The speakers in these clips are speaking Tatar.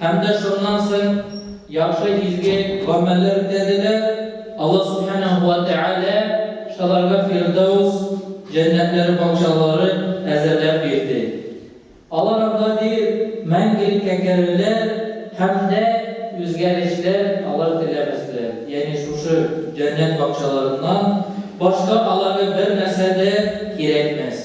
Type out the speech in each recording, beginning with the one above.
Һәм дә шуннан соң яхшы изге гамәлләр үтәделәр, Аллаһ Сүбхәнәһү вә Тәгалә шаларга Фирдәүс җәннәтләре бакчалары әзерләп бирде. Алар анда диер, мәңгелеккә керерләр һәм дә үзгәрешләр алар теләмәсләр, ягъни шушы җәннәт бакчаларыннан башка аларга бернәрсә дә кирәкмәс.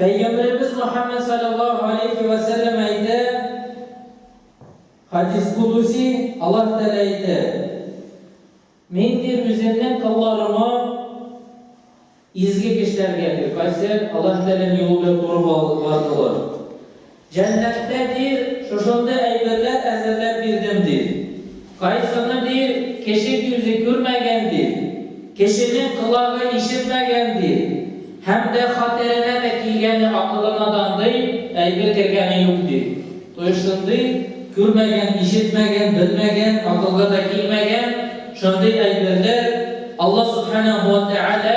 Пәйгамбәребез Мөхәммәд салләллаһу галәйһи вә сәлләм әйтә, хадис кудуси, Аллаһ Тәгалә әйтә, Мин ди үземнең колларыма изге кешеләргә, ди, кайсы Аллаһ Тәгаләнең юлы белән туры бардылар. Җәннәттә, ди, шушындый әйберләр әзерләп бирдем, ди. Кайсыны, ди, кеше күзе күрмәгән, ди, кешенең колагы ишетмәгән, ди, һәм дә хәтеренә дә килгәне акылына да андый әйбер кергәне юк, ди. Кайсындый күрмәгән, ишетмәгән, белмәгән, акылга да килмәгән шундый әйберләр Аллаһ Сүбхәнәһү вә Тәгалә,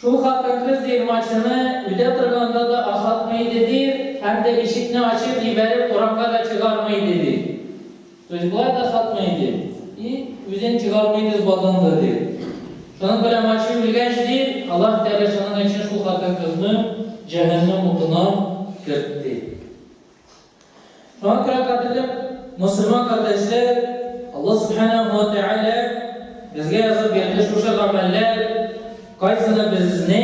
Шул хатын-кыз дип мачыны үтә торганда да ашатмый иде ди һәм дә ишекне ачып җибәреп урамга да чыгармый иде ди. То есть болай да ашатмый иде и үзен чыгармый иде злодан да ди. Шуның белән мачы үлгәч ди, Аллаһ Тәгалә шуның өчен шул хатын-кызны җәһәннәм утына кертте. Шуңа күрә, кадерле мөселман кардәшләр, Аллаһ Субханаһу ва Тәгалә безгә язып бирде шушы гамәлләр, кайсыны безне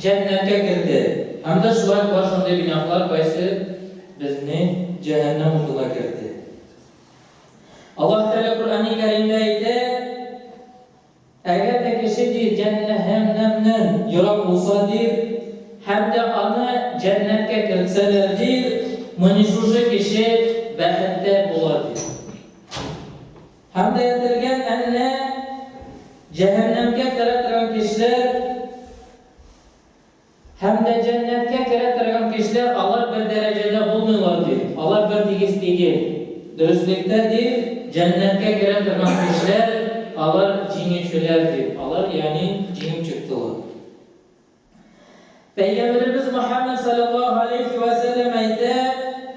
җәннәткә кертте, һәм дә шулай бар шундый гөнаһлар, кайсы безне җәһәннәм утына кертте. Аллаһ Тәгалә Коръәни Кәримдә әйтә, Әгәр дә кеше, ди, җәннәһәннәмнән ерак булса, ди, һәм дә аны җәннәткә кертсәләр, ди, мөни шушы кеше бәхетле була, ди. Һәм дә әйтелгән, әннә, җәһәннәмкә керә торган кешеләр, Һәм дә җәннәткә керә торган кешеләр алар бер дәрәҗәдә булмыйлар, ди. Алар бертигез тигел. Дөреслектә, ди, җәннәткә керә торган кешеләр, алар җиңүчеләр, ди. Алар, ягъни, җиңеп чыктылар. Пәйгамбәребез Мөхәммәд салләллаһу галәйһи вә сәлләм әйтә.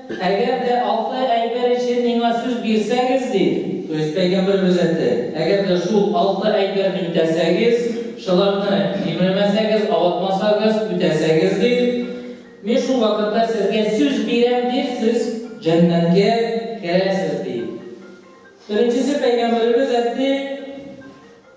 Әгәр дә алты әйбер өчен миңа сүз бирсәгез, ди Кыйс пәйгамбәр күрсәтте, әгәр дә шул алты әйбер үтәсәгез, шуларны җимермәсәгез, авыртмасагыз, үтәсәгез, ди, мин шул вакытта сезгә сүз бирәм, ди, сез җәннәткә керәсез, ди. Беренчесе пәйгамбәребез әйтте.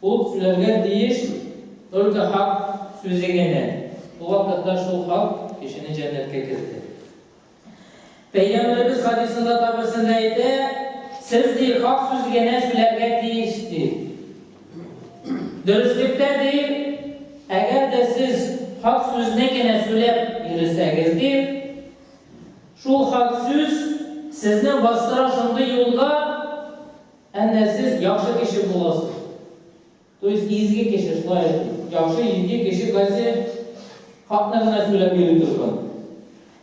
Ул сүләргә тиеш только хак сүзе генә. Бу вакытта шул хак кешене җәннәткә кертер. Пәйгамбәребез хадисында да берсендә әйтә, Сез, ди, хак сүз генә сүләргә тиеш, ди. Дөреслектә, ди, әгәр дә сез хак сүзне генә сүләп йөресәгез, ди, шул хак сүз сезне бастыра шундый юлга, Әнә сез яхшы кеше буласыз. То есть изге кеше, шулай әйтик. Яхшы, изге кеше кайсы хакта гына сөйләп йөри торган.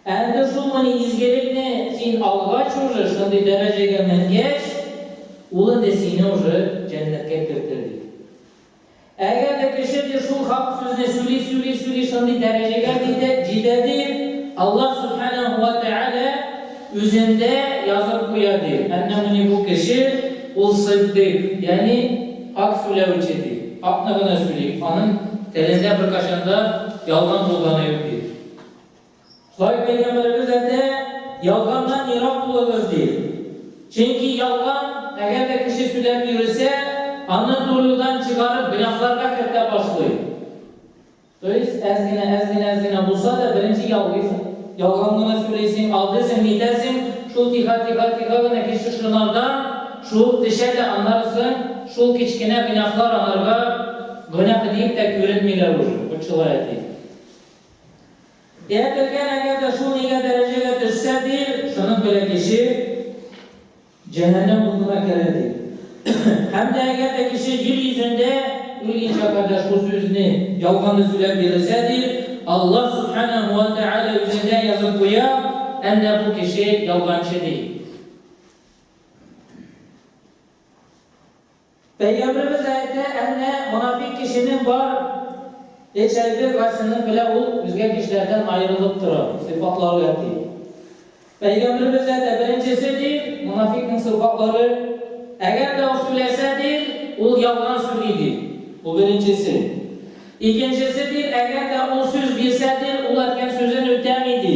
Әллә шулмыни изгелекне син алгач уже, шундый дәрәҗәгә менгәч, ул инде сине уже җәннәткә кертер, ди. Әгәр дә кеше дә шул хак сүзне сүли-сүли-сүли шундый дәрәҗәгә җитә диеп, Аллаһ Сүбхәнәһү вә Тәгалә үзендә язып куя ди, әннәһү ни бу кеше, ул сыйддыйк, ягъни хак сүләүче ди, хакны гына сүли, аның телендә беркайчан да ялган булганы юк ди. Һай пәйгамбәребез әйтә, ялганнан ерак булыгыз, ди. Чөнки ялган, әгәр дә кеше сүләп йөресә, аны зур юлдан чыгарып, гөнаһларга кертә башлый. То есть, әз генә, әз генә, әз генә булса да, беренче ялгыйсың. Ялган гына сүләйсең, алдыйсың, нитәсең, шул тиха, тиха, тиха гына кеше шынардан шуып тешә дә, аннары соң шул кечкенә гөнаһлар анарга гөнаһ диеп тә күренмиләр уже. Вот шулай әти. Дәртләгән, әгәр дә шул нигә дәрәҗәгә төшсә, ди, шуның белән кеше җәһәннәм утына керә, ди. Һәм дә әгәр дә кеше җир йөзендә үлгәнчә кадәр шул сүзне, ялганны сөйләп йөресә, ди, Аллаһ Сүбхәнәһү вә Тәгалә үзендә язып куя, әнә бу кеше ялганчы, ди. Пәйгамбәребез әйтә, Әнә, монафикъ кешенең бар эч әйбе, кайсынын белә ул үзгә кешеләрдән аерылып тора, сыйфатлары ят, ди. Пәйгамбәребез әйтә, беренчесе, ди, монафикъның сыйфатлары, Әгәр дә ул сүләсә, ди, ул ялган сүли, ди. Бу беренчесе. Икенчесе, ди, Әгәр дә ул сүз бирсә, ди, ул әткән сүзен үтәми, ди.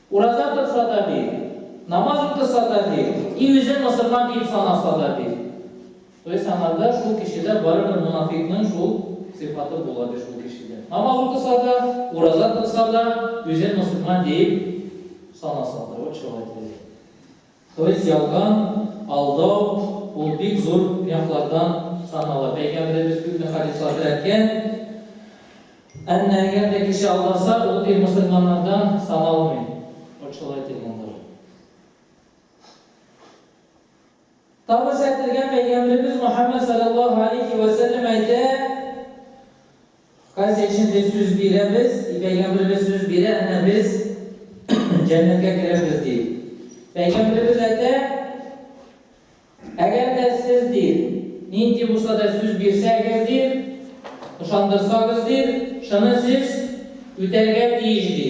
Ураза торса да бир, намаз укыса да бир, и үзе мосылман диеп санаса да бир. То есть анарда шул кешедә барыбер монафикның шул сыйфаты була ди шул кешедә. Намаз укыса да, ураза торса да, үзен мосылман диеп санаса да. Вот человек. Хөрис ялган, алдау, ул бик зур гөнаһлардан санала. Пәйгамбәребез күпме хадислар терәткән. Әмма әгәр дә кеше алдаса, ул ир мөселманнардан саналмый. Вот шулай дигәндер. Тавы сәтлегә пәйгамбәребез Мөхәммәд саллаллаһу алейхи ва сәлләм әйтә, Казия өчен без сүз бирәбез, и Пәйгамберебез сүз бирә, әнә без җәннәткә керербез, ди. Пәйгамберебез әйтә, әгәр дә сез, ди, нинди булса да сүз бирсәгез, ди, ышандырсагыз, ди, шуны сез үтәргә тиеш, ди.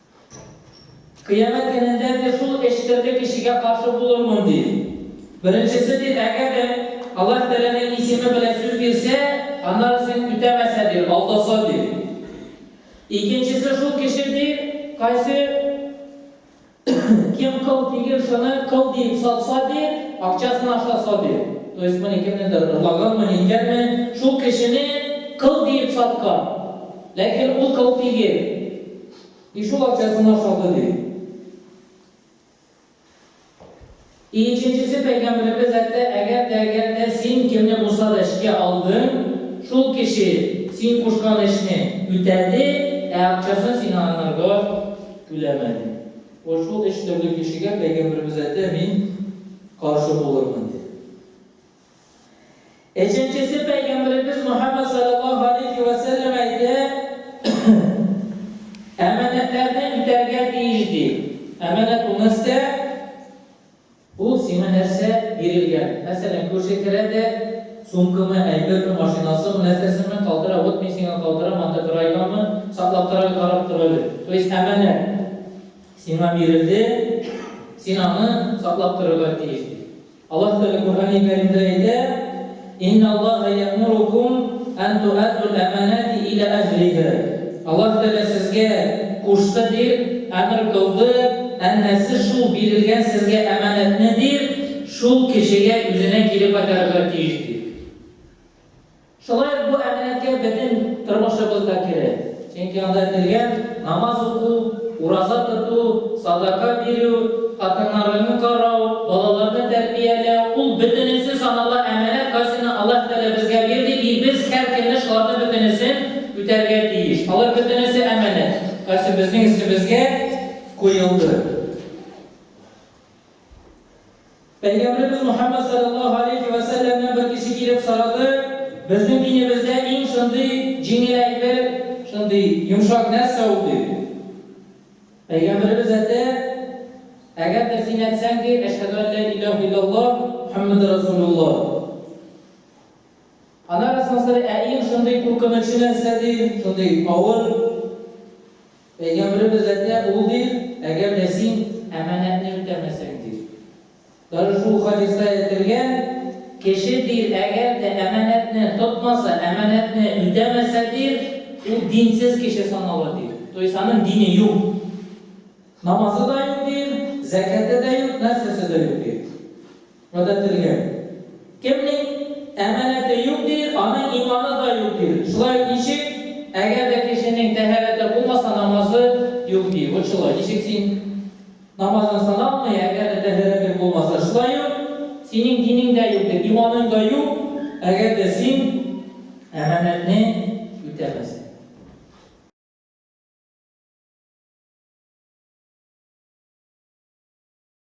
Кыямәт көнендә, ди, шул эчтәге кешегә каршы булырмын, ди. Беренчесе, ди, әгәр дә Аллаһ Тәгаләнең исеме белән сүз бирсә, аннары син үтәмәсә, ди, алдаса, ди. Икенчесе шул кеше, ди, кайсы кем кыл тигез шуны кыл диеп сатса, ди, акчасын ашаса, ди. То есть моны кемнедер ырлаганмы, ниткәнме, шул кешене кыл диеп саткан, ләкин ул кыл тигез. И шул акчасына салды ди. И иченчесе пәйгамберебез әйтте, әгәр дә, әгәр дә син кемне булса да эшкә алдың, шул кеше син кушкан эшне үтәде, ә акчасын сиңа аннарга түләмәде. Вот шул өч төрле кешегә пәйгамберебез әйтте, мин каршы булырмын ди. Өченчесе Пәйгамбәребез Мөхәммәд саллаллаһу алейхи вә сәлләм әйтә, әманәтләрне үтәргә тиеш ди. Әманәт ул нәрсә? Ул сиңа нәрсә бирелгән? Мәсәлән, күрше керә дә сумкамы, әйберме, машинасымы, нәрсәсеме калтыра, вот мин сиңа калтырам, анда бер айгамы, саклап тора, карап тора әле. То есть әманәт сиңа бирелде, син аны саклап торырга тиеш. Аллаһ Тәгалә Коръәни Кәримдә әйтә, Инна Аллаһа йәэмурукум ән туәддул әманати илә әһлиһа. Аллаһ Тәгалә сезгә кушты, дип әмер кылды, әнә сез шул бирелгән сезгә әманәтне, дип, шул кешегә, үзенә кире кайтарырга тиеш, дип. Шулай ук бу әминәткә бөтен тормышыбыз да керә. Чөнки анда әйтелгән, намаз уку, ураза тоту, садака бирү, хатыннарыңны карау, балаларны тәрбияләү, ул бөтенесе санала әманәт кайсыны Аллаһ Тәгалә безгә бирде и без һәр көнне шуларны бөтенесен үтәргә тиеш. Алар бөтенесе әманәт кайсы безнең өстебезгә куелды. Пәйгамбәребез Мөхәммәд салләллаһу алейһи вә сәлләмнән бер кеше килеп сорады, Безнең динебездә иң шундый җиңел әйбер, шундый йомшак нәрсә ул? диде. Пәйгамбәребез әтә, Әгәр дә син әйтсәң ки, Әшһәдү ән лә иләһә илләллаһ, Мөхәммәдүр рәсүлуллаһ. Аннары соң сорый, Ә иң шундый куркынычы нәрсә? ди, шундый авыр. Пәйгамберебез Хәзрәте Әбу Һурыйр, Әгәр дә син әманәтне үтәмәсәң, ди. Даже шул хадиста әйтелгән, кеше, ди, әгәр дә әманәтне тотмаса, әманәтне үтәмәсә, ди, ул динсез кеше санала, ди. То есть аның дине юк. Намазы да юк, ди, зәкяте дә юк, нәрсәсе дә юк, ди. Гадәтелгән. Кемнең әманәте юк ди, аның иманы да юк ди. Шулай ук ничек? Әгәр дә кешенең тәһарәте булмаса, намазы юк ди. Вот шулай. Ничек син намазың сыналмый, әгәр дә тәһарәтең булмаса? Шулай ук синең динең дә юк ди, иманың да юк, әгәр дә син әманәтне үтәмәсәң.